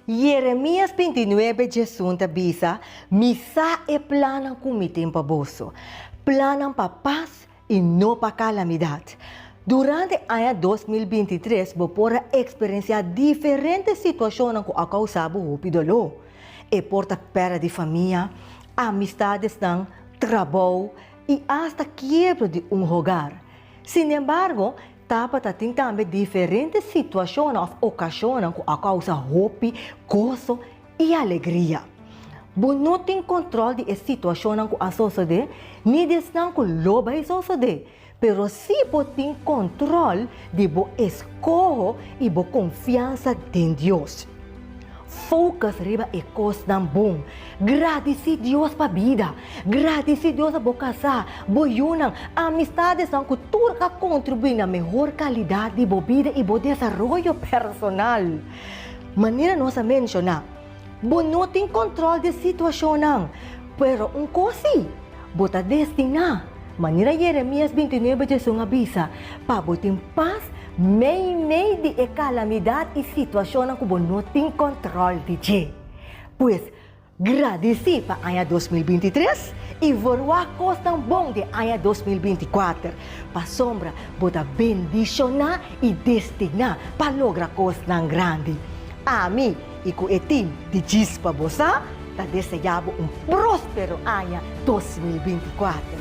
Jeremias binti nuebe djesun ta bisa, Mi sa e plannan ku mi tin pa boso, plannan pa pas i no pa kalamidat. Durante e aña dos mil binti tres bo por a eksperensiá diferente situashonnan ku a kousá bo hopi doló. E por ta pèrdè di famia, amistadesnan, trabou i asta kiebra di un hogar. Sinembargo, Tabata tin tambe diferente situashonnan òf okashonnan ku a kousa hopi goso i alegria. Bo no tin kontrol di e situashonnan ku a sosodé ni di esnan ku lo bai sosodé, pero si bo tin kontrol di bo eskoho i bo konfiansa den Dios. Focus riba e cosnan bon. Gradeci Dios pa bida. Gradeci Dios pa bo casa, bo yunan, amistadesan cu tur a contribui na mehor calidad di bo bida y bo desaroyo personal. Manera nos a menciona, bo no tin control di situacionnan, pero un cos si, Bo ta destiná, manera Jeremias binti nuebe Jeson a bisa, pa bo tin pas meimei di e kalamidat i situashonnan ku bo no tin kòntròl di dje. Pues, gradisí pa aña dos mil binti tres i vorwá kosnan bon den aña dos mil binti kuater, pasobra bo ta bendishoná i destiná pa logra kosnan grandi. Ami. I ku e tin di djis pa bo sa ta deseá bo un próspero aña dos mil binti i kuater.